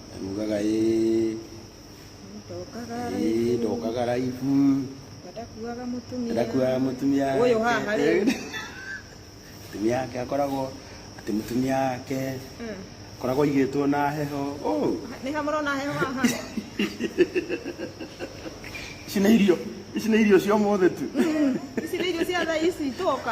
Ndamugaga ĩĩ, ndokaga ĩĩ, ndokaga raibu. ndakuaga mũtumia Ndakuaga mũtumia wake. Ũyũ haha rĩu. Mũtumia wake akoragwo atĩ mũtumia wake Mm. akoragwo aigĩtwo na heho. Oh, nĩ ha mũrona heho haha ici nĩ irio, ici nĩ irio cia ũmũthĩ tu. ici nĩ irio cia thaa ici twoka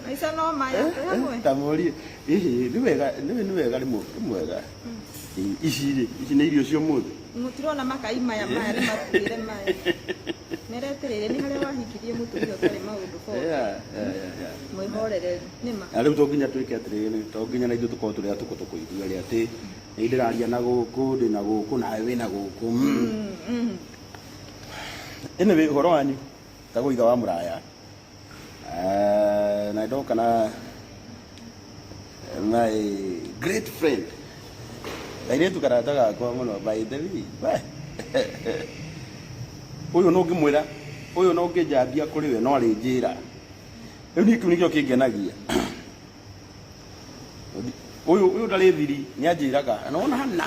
maica no maya twĩ hamwe tamorie ĩhĩ nĩ wega nĩ nĩ wega rĩmwe nĩ mwega Ĩ- ici rĩ ici nĩ irio cia mũthĩ mũtirona makai maya maya nĩ matuĩre maya mereterere nĩ harĩa wahikirie mũtumia ũtarĩ maũndũ bo mwĩhorereri nĩma na rĩu to nginya twĩke atĩrĩrĩ to nginya na ithuĩ tũkorwo tũrĩ atũkũ tũkũigua rĩ atĩ nĩ ndĩraria na gũkũ ndĩ na gũkũ nawe wĩ na gũkũ Mm. ĩnĩ wĩ ũhoro wanyu tagwo ithe wa mũraya Eh, na ndoka na my great friend kairĩtu karata gakwa mũno by the way we ũyũ no ngĩmwĩra ũyũ no ngĩnjambia kũrĩ we no arĩ njĩra rĩu niĩ kĩu nĩkĩo kĩngenagia ũyũ ũyũ ndarĩ thiri nĩ anjĩraga na wona hana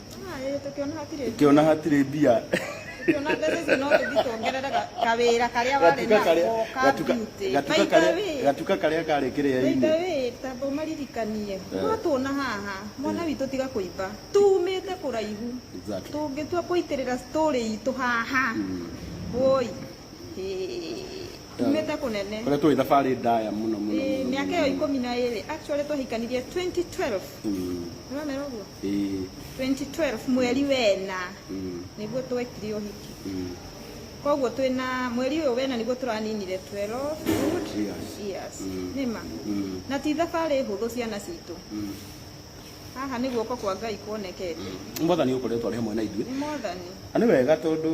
Tukiona hatire mbia tukiona mbeca icio no tũthiĩ tuongerere ga- kawĩra karĩa warĩ gatuka karĩa nako ka gatuka beauty. gatuka By the karĩa way, gatuka karĩa karĩ by the kĩrĩa-inĩ way, tamba ũmaririkanie Eh. mwatuona haha mwana witũ tiga kũimba tumĩte kũraihu Exactly. tũngĩtua kũitĩrĩra story itũ haha woi umĩte kũnene kũrĩa tũĩ thabarĩ ndaya mũno mũno Ĩĩ, mũno, mĩaka mũno. ĩyo ikũmi na ĩrĩ actually twahikanirie 2012 Mm, nĩwamera ũguo ĩĩ, 2012 mweri wena mm, nĩguo twekire ũhiki mm. koguo twĩna mweri ũyũ wena nĩguo tũraninire 12 good Years. years Mm. nĩma Mm. na ti thabarĩ hũthũ ciana citũ Mm. haha nĩ guoko kwa ngai kuonekete mwathani ũkoretwo arĩ hamwe na ithuĩ nĩ mothani na nĩ wega tondũ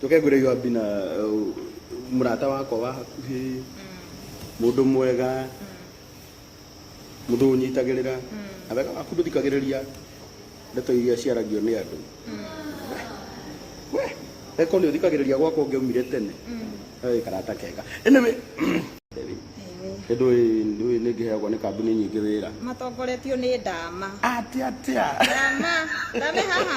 Tũkegwĩre Yoabi na mũrata wakwa wa hakuhĩ, mũndũ mwega, mũndũ ũnyitagĩrĩra, na wega waku ndũthikagĩrĩria ndeto iria ciaragio nĩ andũ. We, eko nĩ ũthikagĩrĩria gwakwa ũngĩaumire tene. Ĩ karata kega. Anyway, nĩ ndũĩ ndũĩ nĩ ngĩheagwo nĩ kambuni nyingĩ wĩra. Matongoretio nĩ ndama. Atĩa atĩa? Ndama, ndame haha.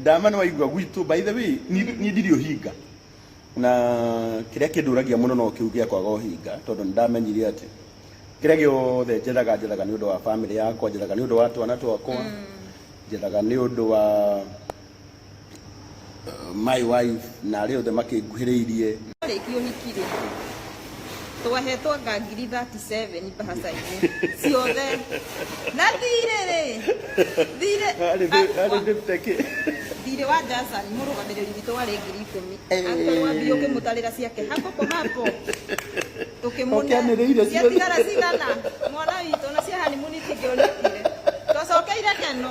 Ndama nĩ waigua gwitũ by the way niĩ ndirĩ ũhinga na kĩrĩa kĩndũragia mũno no kĩu gĩa kwaga ũhinga tondũ nĩ ndamenyire atĩ kĩrĩa gĩothe njethaga njethaga nĩ ũndũ wa bamĩrĩ yakwa njethaga nĩ ũndũ wa twana twakwa mm. njethaga nĩ ũndũ wa uh, my wife na arĩa othe makĩnguhĩrĩirie twahetwo anga ngiri 37 mbahaca-inĩ ciothe na thirĩ rĩ thirĩ Arĩ thĩ- arĩ wa- ndĩrute kĩ? thirĩ wa Jason mũrũgamĩrĩri witũ warĩ ngiri ikũmi Eh. angĩkorwo ambi ũkĩmũtarĩra ciake hapo kwa hapo Ũkĩanĩrĩire ciothe. ciatigara cigana mwana witũ na cia hanimuni tingĩonekire twacokeire keno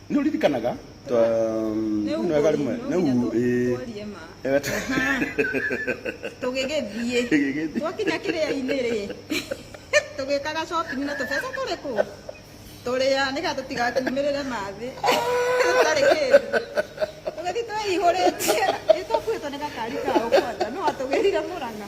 nä å ririkanaga twa- Nĩ nĩ wega rĩmwe ũkũrinũ, nĩ nginya u- tũ- ĩĩ. tworie ma. Ewe tũ- Aha. tũgĩgĩthiĩ Tũgĩgĩthiĩ. twakinya kĩrĩa-inĩ rĩ tũgĩkaga shopping na tũbeca tũrĩ kũ tũrĩa nĩgetha tũtigakiumĩrĩre mathĩ tũtarĩ kĩndũ tũgĩthiĩ twĩihũrĩtie ĩ twakuĩtwo nĩ gakari ka ũkwanja no atũgĩrire mũrang'a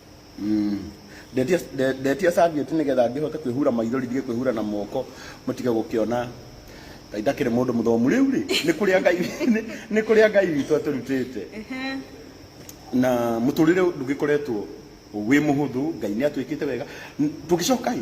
Mm. Ndetia nde- ndetia serviette nigetha ngihote kwihura maithori ndige kwihura na moko mutige gukiona ngai ndakiri mundu muthomu riu ri ni kuria ngai ni- ni kuria ngai witũ aturutite Ehe. na muturire ndugikoretwo wi muhuthu ngai ni atwikite wega N- tugicoka i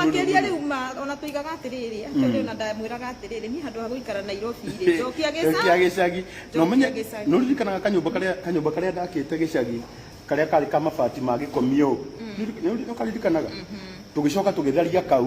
Makĩria rĩu ona tũigaga atĩrĩrĩ, acio nĩ ona ndamwĩraga atĩrĩrĩ, niĩ handũ ha gũikara Nairobi-rĩ, njokia gĩcagi. Na ũmenye, nĩ ũririkanaga kanyũmba karĩa, kanyũmba karĩa ndakĩte gĩcagi, karĩa karĩ ka mabati ma gĩkomio ũũ? Nĩ ũririkanaga? Tũgĩcoka tũgĩtharia kau,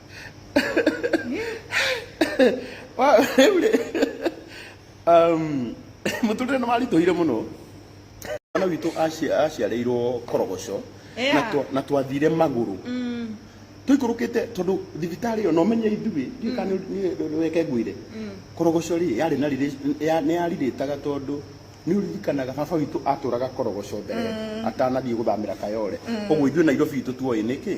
Wa- rĩu rĩ um, mũtũrĩre nĩ waritũhire mũno mwana witũ aci- aciarĩirwo korogoco na Yeah. twa- na twathire magũrũ tũikũrũkĩte tondũ thibitarĩ ĩyo nomenye ithuĩ ndiũĩ kana nĩ- nĩ- nĩweke ngwĩre korogoco rĩ yarĩ na riri- ya- nĩ yarirĩtaga tondũ nĩ ũririkanaga baba witũ atũraga korogoco mbere atanathiĩ gũthamĩra kayore koguo ithuĩ nairobi itũ tuoĩ nĩkĩ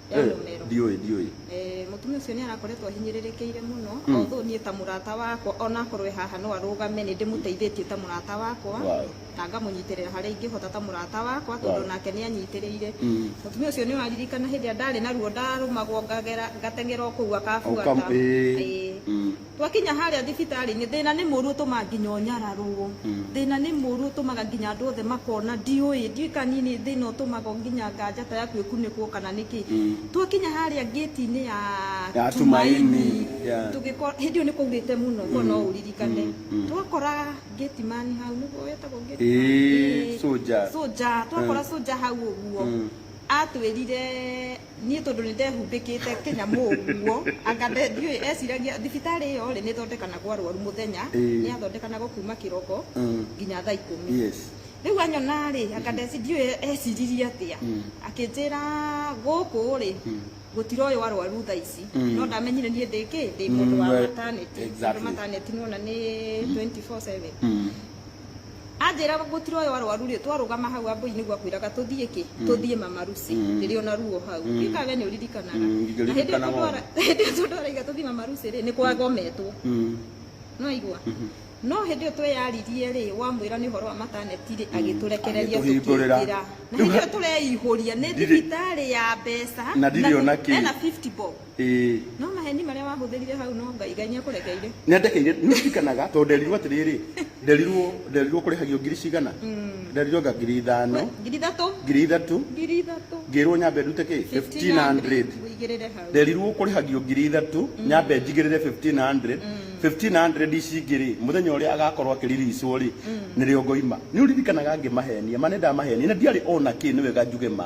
ya Eh, mũmero ndiũĩ ndiũĩ Eh, mũtumia ũcio nĩ arakoretwo ahinyĩrĩrĩkĩire mũno Mm. although niĩ ta mũrata wakwa onakorwo e haha no arũgame nĩ ndĩmũteithĩtie ta mũrata wakwa Wow. na ngamũnyitĩrĩra harĩa ingĩhota ta mũrata wakwa tondũ Wow. nake nĩ anyitĩrĩire Mm. mũtumia ũcio nĩ waririkana hĩndĩ ĩrĩa ndarĩ na ruo ndarũmagwo ngagera ngateng'era o kũu akabuata Ũkam- ĩĩ. Ĩĩ. Mm. Twakinya harĩa thibitarĩ-inĩ, thĩna nĩ mũũru ũtũmaga nginya ũnyararũo. Thĩna nĩ mũũru ũtũmaga nginya andũ othe makona. Ndiũĩ, ndiũĩ kana niĩ nĩ thĩna ũtũmaga nginya nganja ta yaku ĩkunĩkwo kana nĩ kĩ. Twakinya harĩa ngĩti-inĩ ya Tumaini, tũgĩkora, hĩndĩ ĩyo nĩ kwaurĩte mũno, korũo no ũririkane. Twakora gate man hau, nĩguo etagwo gate man? Ĩĩ, soldier. Soldier. Twakora soldier hau ũguo, atwĩrire, Niĩ tondũ nĩ ndehumbĩkĩte kĩnyamũ ũguo, anga nde, ndiũĩ, eciragia, thibitarĩ ĩyo rĩ, nĩ ĩthondekanaga arwaru mũthenya, Ĩĩ. nĩ yathondekanaga kuuma kĩroko Mm. nginya thaa ikũmi. Yes. Rĩu anyona rĩ, anga ndeci, ndiũĩ eciririe atĩa, akĩnjĩra gũkũ rĩ, gũtiroywo arwaru thaa ici, Mm. no ndamenyire niĩ ndĩ kĩ, ndĩ mũndũ wa Mm, we- maternity, tondũ exactly. maternity nĩ wona nĩ 24/7. Mm. Anjĩra gũtirĩ oyo arwaru rĩ twarũgama hau Ambũi nĩguo akwĩraga tũthiĩ kĩ? Tũthiĩ Mama Lucy rĩrĩa ona ruo hau. Ndiũĩ kana we nĩ ũririkanaga. Na hĩndĩ ĩyo tondũ arauga tũthiĩ Mama Lucy rĩ nĩ kwagometwo. Nĩ waigua? No hĩndĩ ĩyo tweyaririe rĩ wamwĩra nĩ ũhoro wa mataneti rĩ agĩtũrekereria tũkĩingĩra. Na hĩndĩ ĩyo tũreihũria nĩ thibitarĩ ya mbeca na ena fifty bob. no maheni marĩa wahũthĩrire hau no ngai ngai nĩakũrekeire nĩandekeire nĩririkanaga tondũ nderirwo atĩrĩrĩ nderirwo nderirwo kũrĩhagio ngiri cigana nderirwo nga ngiri ithano ngiri ithatũ ngiri ithatũ ngiri ithatũ ngĩrwo nyambe ndute kĩ 1500 wĩigĩrĩre hau nderirwo kũrĩhagio ngiri ithatũ nyambe njigĩrĩre 1500 1500 ici ingĩ rĩ mũthenya ũrĩa agakorwo akĩriricwo rĩ nĩrĩo ngoima nĩ ũririkanaga ngĩmahenia ma nĩndamahenia na ndiarĩ ona kĩ nĩ wega njuge ma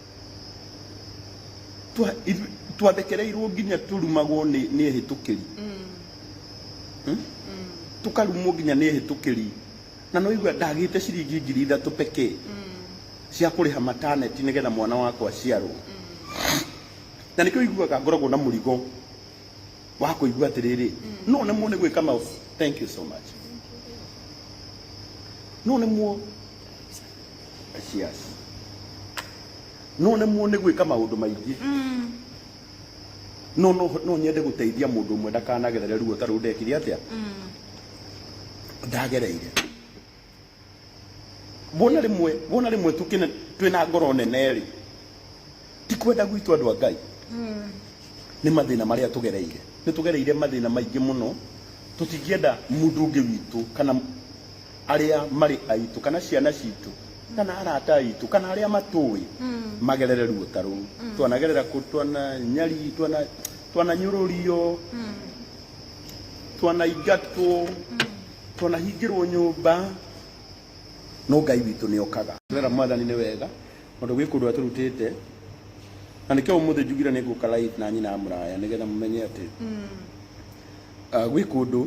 Twa- ithu- twathekereirwo nginya tũrumagwo nĩ nĩ ehĩtũkĩri Hmm? tũkarumwo nginya nĩ ehĩtũkĩri na no igua ndagĩte ciringi ngiri ithatũ pekee cia kũrĩha mataneti nĩgetha mwana wakwa aciarwo na nĩkĩo iguaga ngoragwo na mũrigo wa kũigua atĩrĩrĩ no nemwo nĩ gwĩka ma thank you so much no nemwo Yes. No nemwo nĩ gwĩka maũndũ maingĩ no no no nyende gũteithia mũndũ ũmwe ndakanagerere ruo ta rũu ndekire atĩa ndagereire wona rĩmwe wona rĩmwe tũkĩne twĩna ngoro nene rĩ ti kwenda gwitũ andũ a ngai nĩ mathĩna marĩa tũgereire nĩ tũgereire mathĩna maingĩ mũno tũtingĩenda mũndũ ũngĩ witũ kana arĩa marĩ aitũ kana ciana citũ kana arata aitũ kana arĩa matũĩ magerere ruo ta rũu twanagerera kũ twananyari twana twananyũrũrio twanaingatwo twanahingĩrwo nyũmba no ngai witũ nĩ okaga Gerera mwathani nĩ wega tondũ gwĩ kũndũ atũrutĩte na nĩkĩo ũmũthĩ njugire nĩ ngũka live na nyina mũraya nĩgetha mũmenye atĩ gwĩ kũndũ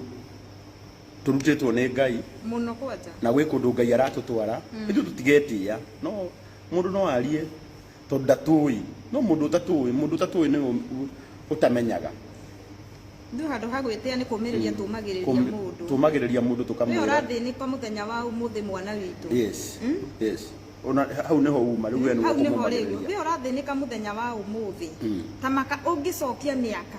Tũrutĩtwo nĩ Ngai. Mũno kwanja. Na gwĩ kũndũ Ngai aratũtwara. Mm. Ithuĩ tũtigetĩa. No mũndũ no arie tondũ ndatũĩ. No mũndũ ũtatũĩ, mũndũ ũtatũĩ nĩwe ũtamenyaga. Ithuĩ handũ ha gwĩtĩa nĩ kũmĩrĩria mm. tũmagĩrĩria mũndũ. Tũmagĩrĩria mũndũ tũkamwĩra. Wee ũrathĩnĩka mũthenya wa ũmũthĩ mwana witũ. Yes. Mm? Yes ona hau niho uma riu wenu kumumagiriria we urathĩnĩka muthenya wa umuthi mm. tamaka ungicokia miaka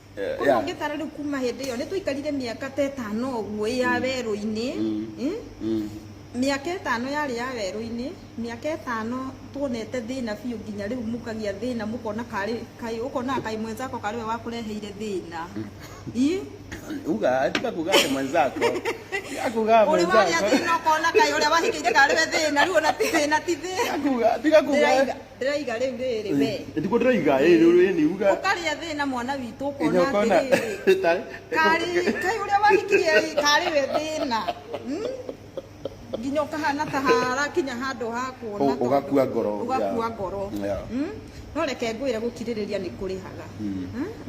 Eh, Koguo yeah. ũngĩtara rĩu kuma hĩndĩ ĩyo nĩ twaikarire mĩaka ta ĩtano ũguo ĩ ya werũ-inĩ Mm. Eh? Mm. mĩaka ĩtano yarĩ ya werũ-inĩ mĩaka ĩtano tuonete thĩna biũ nginya rĩu mũkagĩa thĩna mũkona karĩ kaĩ ũkonaga kaĩ mwenzako karĩ we wakũreheire thĩna Ĩ? Uga, atika kuga ati mwenzako. Akuga ũrĩ warĩa mwenzako. thĩna ũkona kaĩ ũrĩa wahikĩire karĩ we thĩna rĩu ona ti thĩna ti thĩna Akuga, atika kuga. Ndĩraiga. ndĩraiga rĩu rĩrĩ we Ndiko ndĩraiga ĩ rĩu ĩ ni uga. ũkarĩa thĩna mwana witũ Ĩnya ũkona ũkona. atĩrĩrĩ Tari. karĩ kai ũrĩa wahikirie rĩ, karĩ we thĩna Hmm? nginya ũkahana ta harakinya handũ ha kuona Ũ- tondũ- ũgakua ngoro. ũgakua Yeah. ngoro Yeah. Hmm? no reke ngwĩre gũkirĩrĩria nĩ kũrĩhaga Hmm?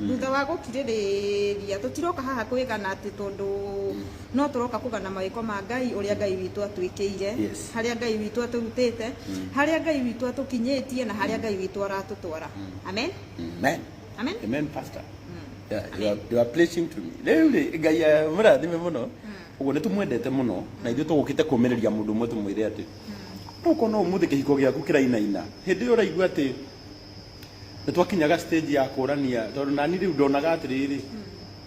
thutha wa gũkirĩrĩria tũtiroka haha kwĩgana atĩ tondũ No tũroka kũgana mawĩko ma Ngai, ũrĩa Ngai witũ atwĩkĩire, Yes. harĩa Ngai witũ atũrutĩte, harĩa Ngai witũ atũkinyĩtie, na harĩa Ngai witũ aratũtwara. Amen. Amen. Amen. Amen, Pastor. Yeah, you are- you are preaching to me. Rĩu rĩ, Ngai amũrathime mũno. Ũguo nĩ tũmwendete mũno na ithuĩ tũgũkĩte kũmĩrĩria mũndũ ũmwe tũmwĩre atĩ no ũkona ũmũthĩ kĩhiko gĩaku kĩrainaina hĩndĩ ĩyo ũraigua atĩ nĩ twakinyaga stage ya kũrania tondũ nani rĩu ndonaga atĩrĩrĩ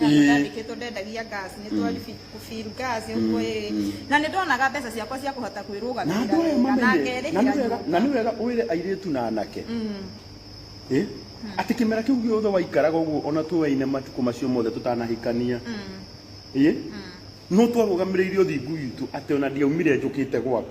Ĩĩ. ndandĩkĩtwo ndendagia gas nĩ twa feel gas ũguo ĩĩ na nĩ ndonaga mbeca ciakwa cia kũhota na andå aya kwĩrũgamĩrĩra na mamenye na nĩ ngerĩhĩra wega na nyũmba nĩ wega wä re airä tu na anake Ĩ, atä kä mera kä u gä othe waikaraga å guo ona twä waine matukå macio mothe tå tanahikania Ĩ, no twarå gamä rä ire å thingu witå atä ona ndiaumire njå kä te gwaku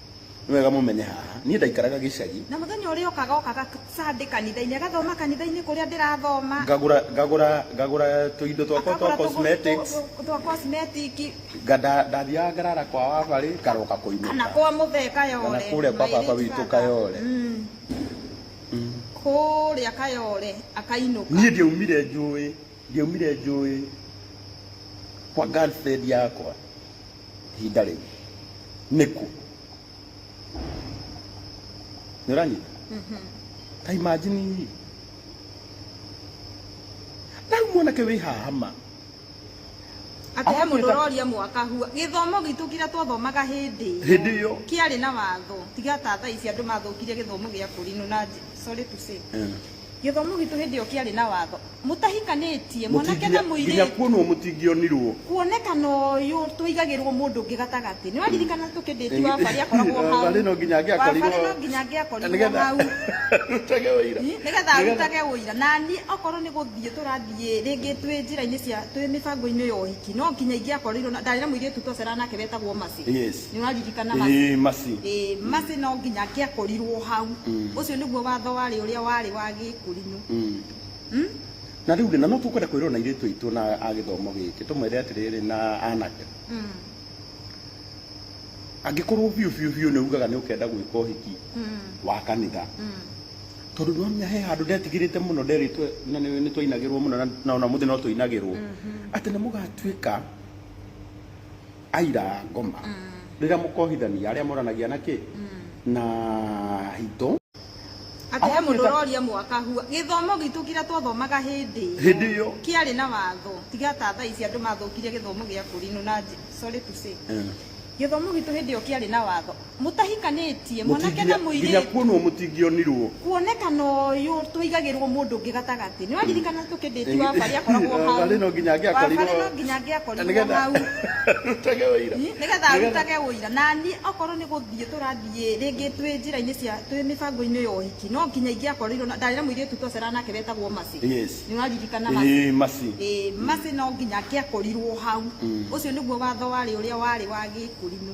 Nĩ wega mũmenye haha, niĩ ndaikaraga gĩcagi. Na mũthenya ũrĩa okaga okaga Sunday kanitha-inĩ, agathoma kanitha-inĩ kũrĩa ndĩrathoma. Ngagũra, ngagũra, ngagũra tũindo twakwa twa cosmetics. Twa cosmetic. Ndathiaga ngarara kwa Wabarĩ, ngaroka kũinũka. Kana kwa Mũthee Kayole. Kana kũrĩa kwa baba witũ Kayole. Kũrĩa Kayole akainũka. Niĩ ndiaumire njũĩ, ndiaumire njũĩ kwa girlfriend yakwa. ihinda rĩu nĩkũ nĩ ũranyita ta imagine rĩ na rĩu mwanake wĩ haha ma atĩ he mũndũ ũroria mwaka hua gĩthomo gitũ kĩrĩa twathomaga hĩndĩ ĩyo hĩndĩ ĩyo kĩarĩ na watho tiga ta thaa ici andũ mathũkirie gĩthomo gĩa kũrinũ na njĩ- sorry to say Gĩthomo gitũ hĩndĩ ĩyo kĩarĩ na watho. Mũtahikanĩtie, mwanake na mũirĩtu. Nginya kuonwo mũtingĩonirwo. Kuonekana ũyũ twaigagĩrwo mũndũ ũngĩ gatagatĩ. Nĩ waririkana tũkĩ date wa Barĩ akoragwo hau. Barĩ no nginya angĩakorirwo. Barĩ no nginya angĩakorirwo hau. Arutage ũira. Nĩgetha arutage ũira. Na niĩ okorwo nĩ gũthiĩ tũrathiĩ rĩngĩ twĩ njĩra-inĩ cia twĩ mĩbango-inĩ ya ũhiki, no nginya ingĩakorirwo na ndarĩ na mũirĩtu twaceraga nake wetagwo Mercy. nä waririkana Masi? Ĩĩ, Masi. Ĩĩ, Masi no nginya angĩakorirwo hau Mm. ũcio nĩguo watho warĩ ũrĩa warĩ wa gĩkũrinũ Mm. Mm? na rĩu rĩ na no tũkwenda kwĩrwo na irĩtu aitũ na a gĩthomo gĩkĩ tũmwere atĩrĩrĩ na anake Mm. angĩkorwo biũ biũ biũ nĩ ugaga nĩ ũkenda gwĩka ũhiki Mm. wa kanitha Mm. tondũ nĩwamenya he handũ ndetigĩrĩte mũno nderĩtwe na nĩ nĩ twainagĩrwo mũno na- na ona mũthĩ no tũinagĩrwo atĩ nĩ mũgatuĩka Aira a ngoma rĩrĩa mũkohithania arĩa moranagia na kĩ na hitũ Atĩ he mũndũ ũroria mwaka hua. Gĩthomo gitũ kĩrĩa twathomaga hĩndĩ ĩyo. Hĩndĩ ĩyo. Kĩarĩ na watho. Tiga ta thaa ici andũ mathũkirie gĩthomo gĩa kũrinũna, sorry to say. Gĩthomo gitũ hĩndĩ ĩyo kĩarĩ na watho. Mũtahikanĩtie, mwanake na mũirĩtu. Nginya kuonwo mũtingĩonirwo. Kuonekana ũyũ twaigagĩrwo mũndũ ũngĩ gatagatĩ. Nĩ waririkana tũkĩndĩti wa Barĩ akoragwo hau. Wa Barĩ no nginya angĩakorirwo. Wa Barĩ no nginya angĩakorirwo hau. Arutage ũira. Nĩgetha arutage ũira. Na niĩ okorwo nĩ gũthiĩ tũrathiĩ rĩngĩ twĩ njĩra-inĩ cia twĩ mĩbango-inĩ ya ũhiki, no nginya ingĩakorirwo na ndarĩ na mũirĩtu twacera nake wetagwo Mercy. Nĩ ũraririkana Mercy? Ĩĩ Mercy. Ĩĩ Mercy no nginya angĩakorirwo hau. Ũcio nĩguo watho warĩ ũrĩa warĩ wa Gĩkũrinũ.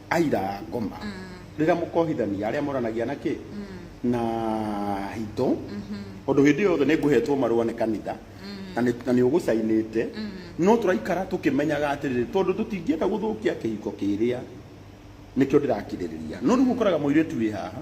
Aira a ngoma rĩrĩa mũkohithania arĩa moranagia na kĩ na hitũ tondũ hĩndĩ yothe nĩ ngũhetwo marũa nĩ kanitha na nĩ- na nĩ ũgũcainĩte no tũraikara tũkĩmenyaga atĩrĩrĩ tondũ tũtingĩenda gũthũkia kĩhiko kĩrĩa nĩkĩo ndĩrakirĩrĩria no rĩu ũkoraga mũirĩtu wĩ haha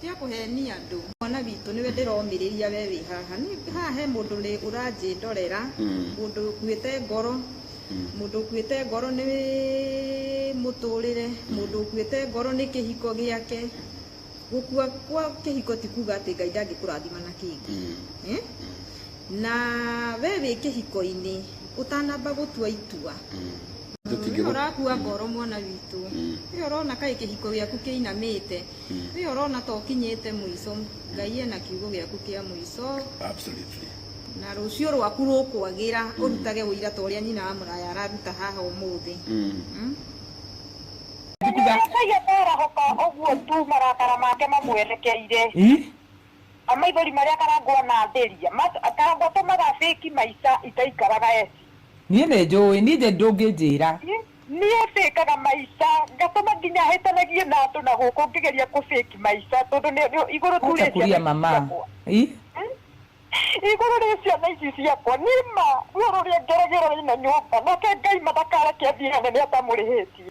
Tia kũhenia andũ. Mwana witũ nĩwe ndĩromĩrĩria we wĩ haha nĩ haha he mũndũ nĩ ũranjĩndorera mũndũ ũkuĩte ngoro mũndũ ũkuĩte ngoro nĩ mũtũrĩre mũndũ ũkuĩte ngoro nĩ kĩhiko gĩake gũkua kwa kĩhiko ti kuga atĩ ngai ndangĩkũrathima na kĩngĩ Eh? na we wĩ kĩhiko-inĩ ũtanamba gũtua itua Tũtingĩgũ- ũrakua ngoro mwana witũ ĩyo ũrona kaĩ kĩhiko gĩaku kĩinamĩte Wĩ ũrona ta ũkinyĩte mũico. Ngai ena kiugo gĩaku kĩa mũico. Absolutely. Na rũciũ rwaku rũkwagĩra mm. ũrutage ũira ta ũrĩa nyina wa mũraya araruta haha ũmũthĩ. Mm. Mm. Ngai atarahũka ũguo tu marakara make mamwerekeire. Amaithori marĩa karangwo anathĩria. Karangwo atũmaga fake maica itaikaraga eti. Niĩ nĩ njũĩ, niĩ nje ndũngĩnjĩra. Niĩ fĩkaga maica ngatũma nginya hĩtanagie na andũ na gũkũ ngĩgeria kũ fake maica tondũ nĩ nĩ igũrũ tu Acha rĩ kulia ciana ici mama. ciakwa. Ih. Igũrũ rĩ ciana ici ciakwa. Nĩ ma ruo rũrĩa ngeragĩra rĩna nyũmba nake Ngai ma ndakareke thiane nĩ atamũrĩhĩtie.